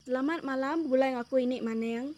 Selamat malam begulai ngaku ini maning.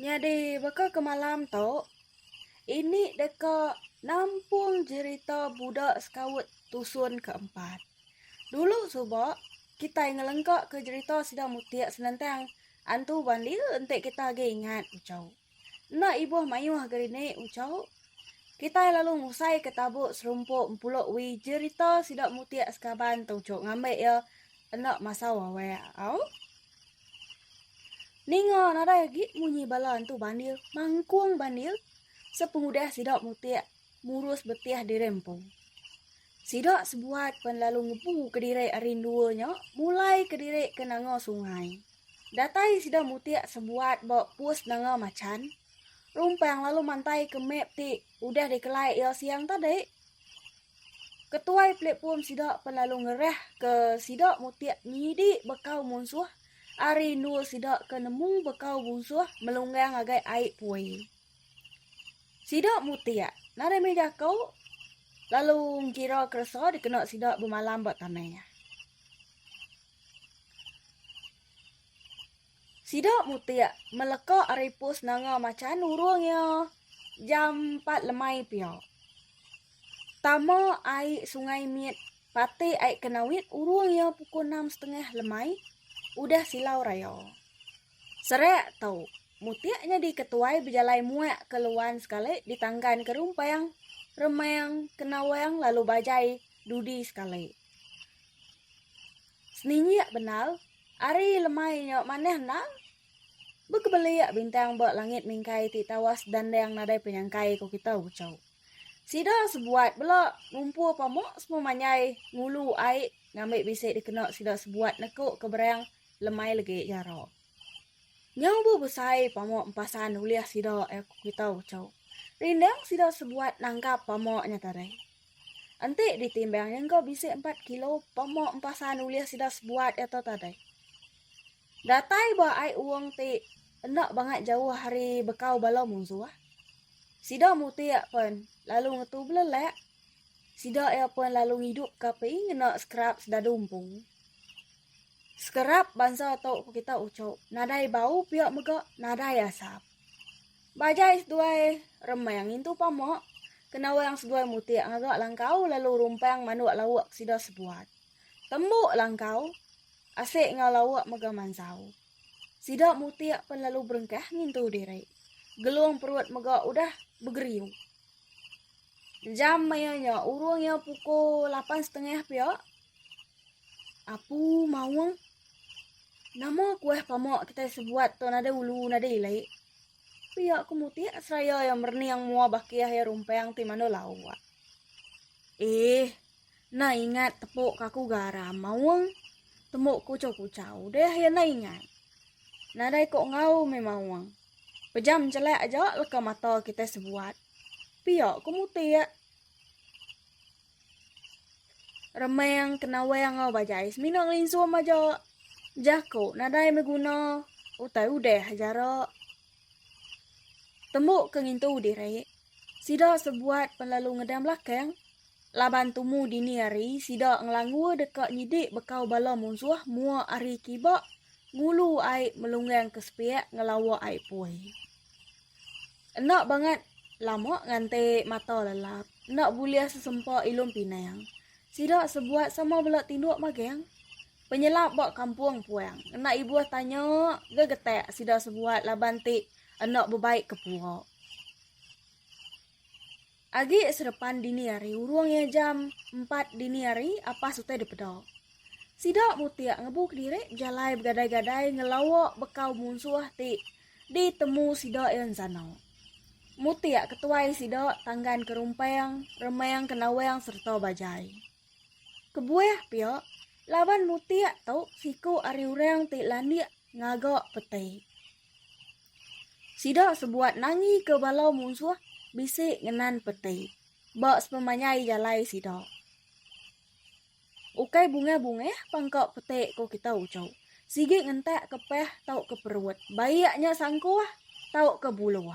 Nyadi baka ke malam tu, ini deka nampung jerita budak sekaut tusun ke empat. Dulu suba, kitai ngelengka ke jerita sida mutik senentang antu bandir enti kita agi ingat uchau. Enda ibuh mayuh geri ni uchaw, kitai lalu ngusai ke tabu serumpu empulu wi jerita sida mutik sekaban tu chok ngambi iya enda masau awak au. Ninga nadai agi munyi bala Entu Bandil mangkung Bandil sepengudah sida mutik murus betih diri empu. Sida sebuat pen lalu ngebu kediri ari endua nya mulai kediri ke Nanga Sungai. Datai sida mutik sebuat ba pus Nanga Machan, Rumpang lalu mantaika map ti udah dikelai iya siang tadi. Ketuai platform sida pen lalu ngerah ke sida mutik nyidi bekau munsuh ari endur sida ke nemu bekau munsuh melunggang ngagai ai pui. Sida mutik nadai mih jako lalu engkira keresa dikena sida bemalam ba tanah. Sida mutik meleka ari pus nanga macha nurung iya jam empat lemai pia. Tama ai sungai mit pati ai Kenawit urung iya pukul enam setengah lemai udah silau raya. Serak tu, mutik nyadi ketuai bejalai muak ke Luan sekali ditanggan ke Rumpang, Remang, Kenawang lalu bajai dudi sekali. Seninjik bendar Ari lemai nyo manah endang, bekebelia bintang ba langit mingkai ti tawas dandang nadai penyangkai ko kita ucau. Sida sebuat bela ngumpul pamuk semua manjai ngulu ai ngambi bisi dikena sida sebuat neko ke berang lemai legi jara. Nyau bu besai pamuk empasan ulih sida ko kita ucau. Rindang sida sebuat nangkap pamuk nya tadi. Enti ditimbang iya enggau bisi empat kilo pemok empasan ulih sida sebuat iya tu tadi. Datai ba ai uong ti enda bangat jauh ari bekau bala munsuh. Sida mutik pen lalu ngetu belelak. Sida iya pen lalu ngidup ke api ngena sekerap sedadu empu. Sekerap bansa tu ku kita uchup nadai bau pia mega nadai asap. Ba jai seduai remang ngintu pamok, kena orang seduai mutik ngaga langkau lalu rumpang manuk lauk sida sebuat. Tembuk langkau asik enggau lauk mega mansau. Sida mutik pen lalu berengkah ngintu diri. Gelung perut mega udah begeriu. Jam maya nya urung iya pukul lapan setengah pia, Apu maung. Nama kuah pamak kitai sebuat tu nadai ulu nadai ilai. Pia ku mutik seraya iya merening mua bakih iya rumpang ti mandu lauk. Eh, enda ingat tepuk ka aku garam maung. Temu kuchau-kuchau deh iya enda ingat. Nadai ko enggau meh maung. Pejam chelak aja leka mata kitai sebuat. Pia ku mutik. Remang kena wang enggau bajai semina ngelinsung aja. Jaku nadai beguna utai udah jara. Tembu ke ngintu diri, sida sebuat penlalu ngedang belakang laban tumu dini hari sida ngelanggur deka nyidi bekau bala munsuh mua ari kiba ngulu ai melunggang ke sepiak ngelawa ai pui. Enda bangat lama nganti mata lelap, enda bulih sesempa ilum pinang. Sida sebuat sama bela tinduk magang. Penyelap ba kampung puang enda ibuh tanya gegetak sida sebuat laban ti enda bebaik kepua. Agi serepan dini hari urung iya jam empat dini hari apas utai dipeda. Sida mutik ngebu kediri bejalai begadai-gadai ngelawa bekau munsuh ti ditemu sida iya ensana. Mutik ketuai sida tanggan ke rumpang, remang ke nawang sereta bajai. Kebuah pia, laban mutik tu siku ari orang ti landik ngaga peti. Sida sebuat nangika bala munsuh bisi ngenan peti ba sepemanjai jalai sida. Ukai bungah-bungah pang ka peti ko kita uchu. Sigi ngentak ke pah tauka perut, baik nya sangkuh tauka buluh.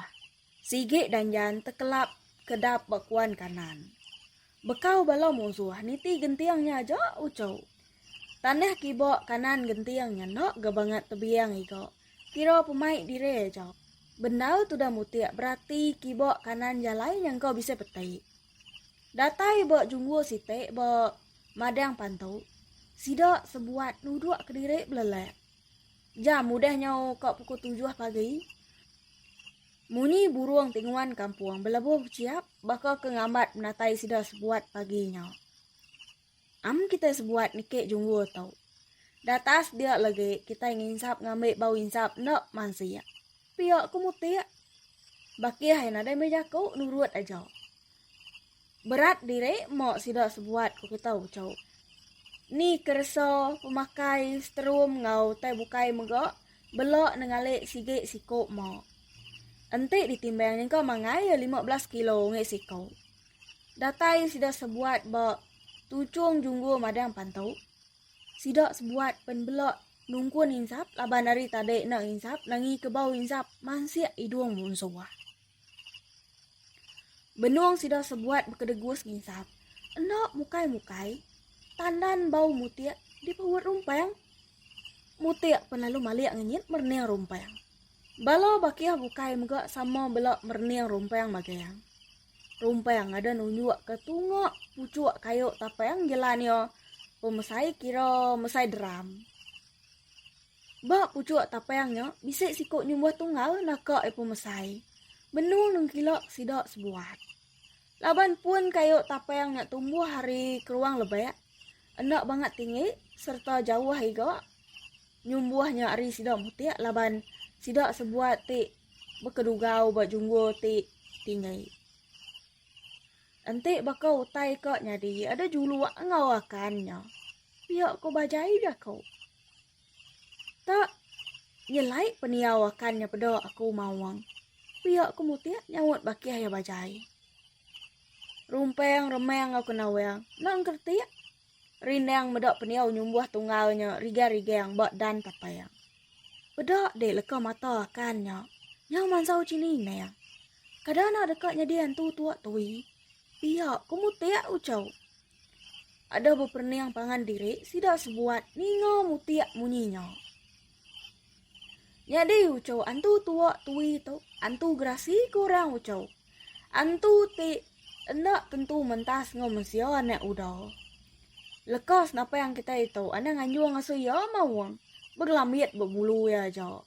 Sigi danjan tekelap kedap ba kuan kanan. Bekau bala munsuh niti genting nya aja uchu. Tanah kiba kanan genting nya enda ga bangat tebiang iga, kira pemai diri aja. Bendar tudah mutik berati kiba kanan jalai nya engka bisi peti. Datai ba junggu siti ba Madang Pantu, sida sebuat nuduk kediri belelak. Jam udah nyau ka pukul tujuh pagi. Munyi burung ti nguan kampung belebuh bechiap baka ke ngambat menatai sida sebuat pagi nya. Am kitai sebuat niki junggur tu. Datas dia legi kitai nginsap ngambi bau insap enda mansik. Pia ke mutik. Bakih ai nadai meh jaku nurut aja. Berat diri mo sida sebuat ku kita ucau. Ni keresa pemakai sterum enggau tai bukai mega bela nengali sigi siku mo. Enti ditimbang nyengka mangai iya lima belas kilo ngi siku. Datai sida sebuat ba Tuchung Junggur Madang Pantu. Sida sebuat pen bela nungkun insap laban ari tadi enda insap nangi ke bau insap mansik idung munsuh. Benung sida sebuat bekedegus nginsap. Enda mukai-mukai, tandan bau mutik dipeut rumpang. Mutik pun lalu malik ngenyit merening rumpang. Bala bakih bukai mega sama bela merening rumpang magang. Rumpang ngadan nunjuk ke tunga pucuk kayu tapang jelan iya pemesai kira mesai drum. Ba puchuk tapang nya bisi siku nyumbuh tunggal naka iya pemesai. Benung nengkila sida sebuat. Laban pun kayu tapang nya tumbuh hari keruang lebak, enda bangat tinggi sereta jauh iga nyumbuh nya ari sida mutik laban sida sebuat ti bekedugau ba junggul ti tinggi. Enti baka utai ka nyadi ada juluk enggau akan nya, pia ko bajai jaku. Tak nyelai pendiau akan nya peda aku mawang. Pia ku mutik nyaut bakih iya bajai. Rumpang remang enggau kena wang. Enda engkertik. Rindang meda pendiau nyumbuh tunggal nya rigang-rigang ba dan tapang. Peda dek leka mata akan nya. Nyau mansau chini nang. Kada enda deka nyadi antu tua tui. Pia ku mutik uchau. Aduh beperening pangan diri sida sebuat ninga mutik munyi nya. Nyadi ucu antu tua tui tu antu gerasi ke orang ucu. Antu ti enda tentu mentas enggau mensia anak uda. Lekas napa yang kita itu anang anjung ngasuh iya maung begelambit bebulu iya aja.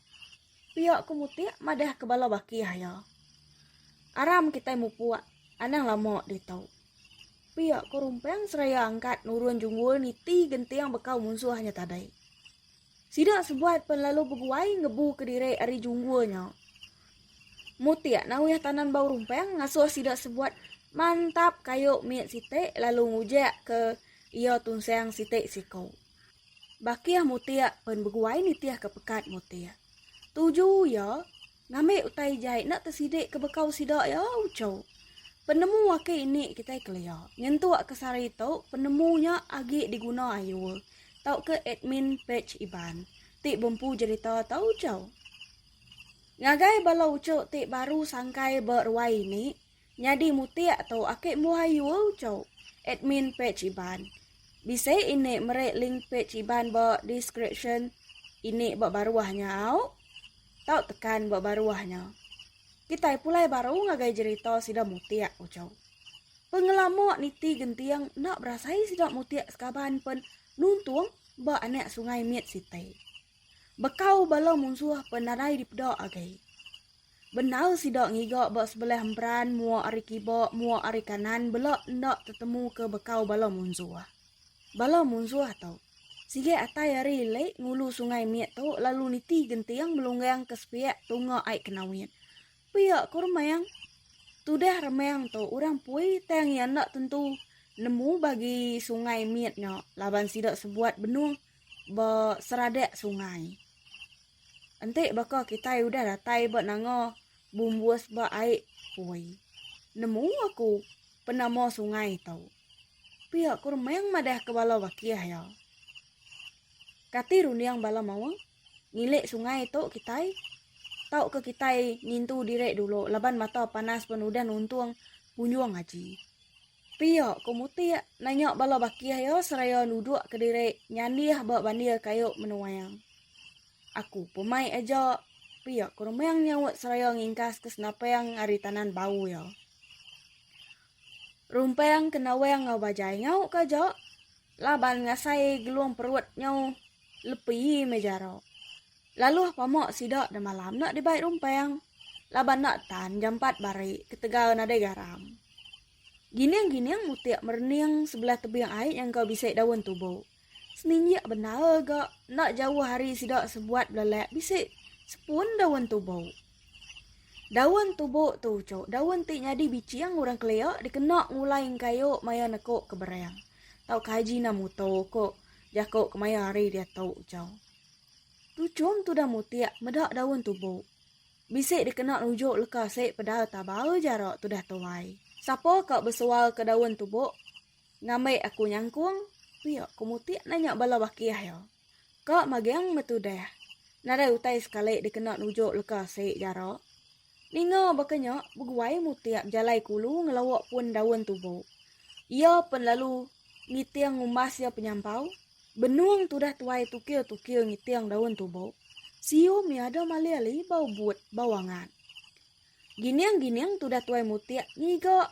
Pia ke mutik madah ke bala bakih iya. Aram kita mupuk anang lama ditu. Pia ko Rumpang seraya angkat nurun Junggul niti genting bekau munsuh nya tadai. Sida sebuat pen lalu beguai ngebu kediri ari Junggul nya. Mutik Nawih Tanan Bau Rumpang ngasuh sida sebuat mantap kayu mit siti lalu ngujek ke iya tunsang siti siku. Bakih Mutik pen beguai nitih ke pekat Mutik. Tuju iya Ngambi utai jai enda tesidi ke bekau sida iya uchu. Penemu aki ini kitai kelia nyentuk ke sehari tu penemu nya agi diguna ayu tauka admin page Iban ti bempu jerita tau uchu. Ngagai bala uchu ti baru sangkai beruai ini, Nyadi mutik tu aki embuh ayu uco. Admin page iban. Bisi ini meri link page iban ba description ini ba baruh nya au. Tau tekan ba baruh nya. Kitai pulai baru ngagai jerita sida mutik uco. Pengelama niti genting enda berasai sida mutik sekaban pen nuntung ba anak sungai mit siti. Bekau bala munsuh pe nadai dipeda agai. Bendar sida ngiga ba sebelah emperan mua ari kiba mua ari kanan bela enda tetemu ke bekau bala munsuh. Bala munsuh tu sigi atai ari ilik ngulu sungai mit tu lalu niti genting melunggang ke sepiak tunga ai Kenawit. Pia ku Remang. Tudah Remang tu orang Pui tang iya enda tentu nemu bagi sungai mit nya laban sida sebuat benung ba seradak sungai. Enti baka kitai udah datai ba nanga bumbus ba ai pui. Nemu aku penama sungai tu. Pia ku Remang madah ke bala bakih iya. Kati runding bala mawa ngilik sungai tu kitai? Tau ke kitai ngintu diri dulu laban mata panas pun udah nuntung punjung aji. Pia ko Mutik nanya bala bakih iya seraya nuduk kediri nyandih ba bandir kayu menuang. Aku pun mai aja, pia ko Remang nyaut seraya ngingkas ke senapang ari tanan bau iya. Rumpang ke nawang enggau bajai ngau ke aja laban ngasai gelung perut nyau lepi meh jara. Lalu apa mok sida demalam nak dibai rumpang laban nak tan jam empat bari ketegal nadai garam. Gining-gining mutik merening sebelah tebing ai nyangka bisi daun tubo. Seninjik bendar ga nak jauh ari sida sebuat belelak bisi sepun daun tubo. Daun tubo tu ucuk daun ti nyadi biching orang kelia dikena ngulai engkayu maya neko ke berang tauka haji ina muto ko jako kemaya hari diatu ucau. Tu chum tudah mutik meda daun tubu. Bisi dikena rujuk leka sik pedal tabau jara tudah tuai. Sapa ka besual ke daun tubu? Ngambi aku nyangkung, pia ku mutik nanya bala bakih iya. Ka magang metudah. Nadai utai sekali dikena rujuk leka sik jara. Ninga baka nya, beguai Mutip bejalai ke ulu ngelauk pun daun tubo. Iya pen lalu ngiting ngumbas iya penyampau, benung tudah tuai tukil-tukil ngiting daun tubo, sium iya ada malih ali bau but, bau angat. Gining-gining tudah tuai Mutip ngiga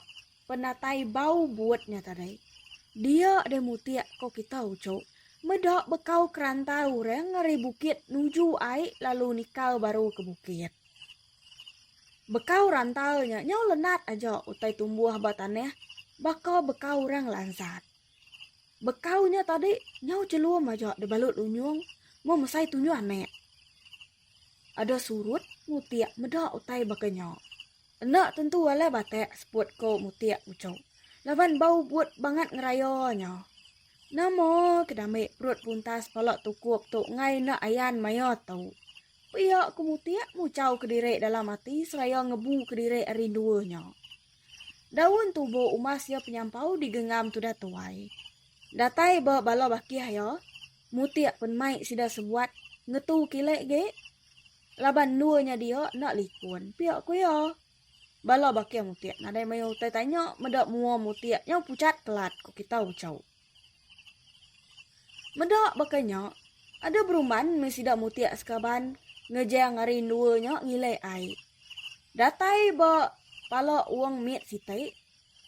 penatai bau but nya tadai. Dia deh Mutip ko kita uchu. Meda bekau keranta orang ari bukit nuju ai lalu nikal baru ke bukit. Bekau rantau nya nyau lenat aja utai tumbuh ba tanah baka bekau orang lansat. Bekau nya tadi nyau chelum aja dibalut lunyung meh mesai tunyuh anak. Ada surut mutik meda utai baka nya. Enda tentu alai batak seput ko mutik uchu laban ba ubut bangat ngeraya nya. Nama ke damai perut puntas pala tukup tu ngai enda ayan maya tu. Pia ku Mutik muchau kediri dalam ati seraya ngebu kediri ari endua nya. Daun tubo umas iya penyampau digengam tudah tuai. Datai ba bala bakih iya, Mutik pen mai sida sebuat ngetu kile agi laban endua nya dia enda likun, pia ku iya. Bala bakih Mutik nadai mayuh utai tanya meda mua Mutik nyau puchat kelat ku kita uchu. Meda baka nya, ada beruman meh sida mutik sekaban ngejang ari endua nya ngilai ai. Datai ba pala Ong mit siti,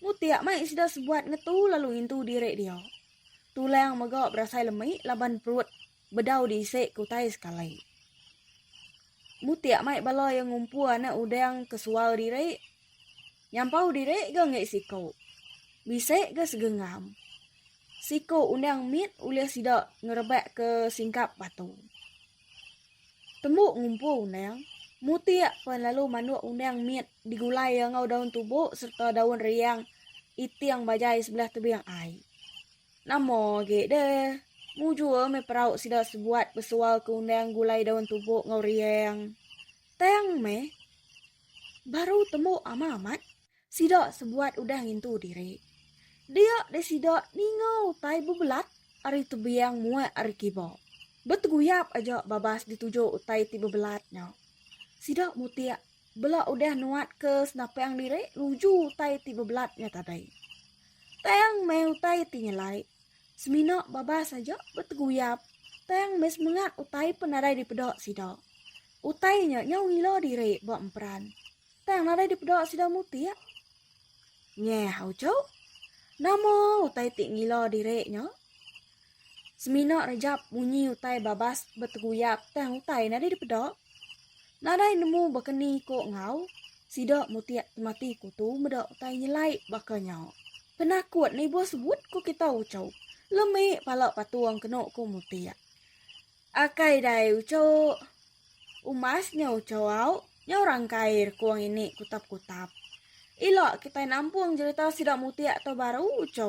mutik mai sida sebuat ngetu lalu ngintu diri dia. Tulang mega berasai lemi laban perut Bedau disi ke utai sekali. Mutik mai bala iya ngumpu anak udang ke sual diri. Nyampau diri ga enggai siku. Bisi ga segenggam. Siku undang mit ulih sida ngerebak ke singkap batu. Tembu ngumpu undang, Mutik pen lalu manduk undang mit digulai iya enggau daun tubu serta daun riang iting bajai sebelah tebing ai. Nama agi deh. Mujur meh perau sida sebuat besual ke undang gulai daun tubuh enggau riang. Tang meh. Baru tembu ama amat, sida sebuat udah ngintu diri. Dia deh sida ninga utai bebelat ari tebiang muak ari kiba. Beteguyap aja babas dituju utai ti bebelat nya. Sida mutik Bela udah nuat ke senapang diri nuju utai ti bebelat nya tadai. Tang meh utai ti nyelai. Semina babas aja beteguyap tang meh semengat utai pen nadai dipeda sida. Utai nya nyau ngila diri ba emperan tang nadai dipeda sida mutik. Nyeh, Auchok. Nama utai ti ngila diri nya? Semina rejap munyi utai babas beteguyap tang utai nadai dipeda. Nadai nemu baka ni ko enggau sida mutik temati ko tu meda utai nyelai baka nya. Penakut na ibuh sebut ko kita uco. Lemi pala patung keno ko mutik. Akai dai uco. Umas nya uco au nyau rangkai rekung ini kutap-kutap. Ila kitai nampung jerita sida mutik tu baru uco.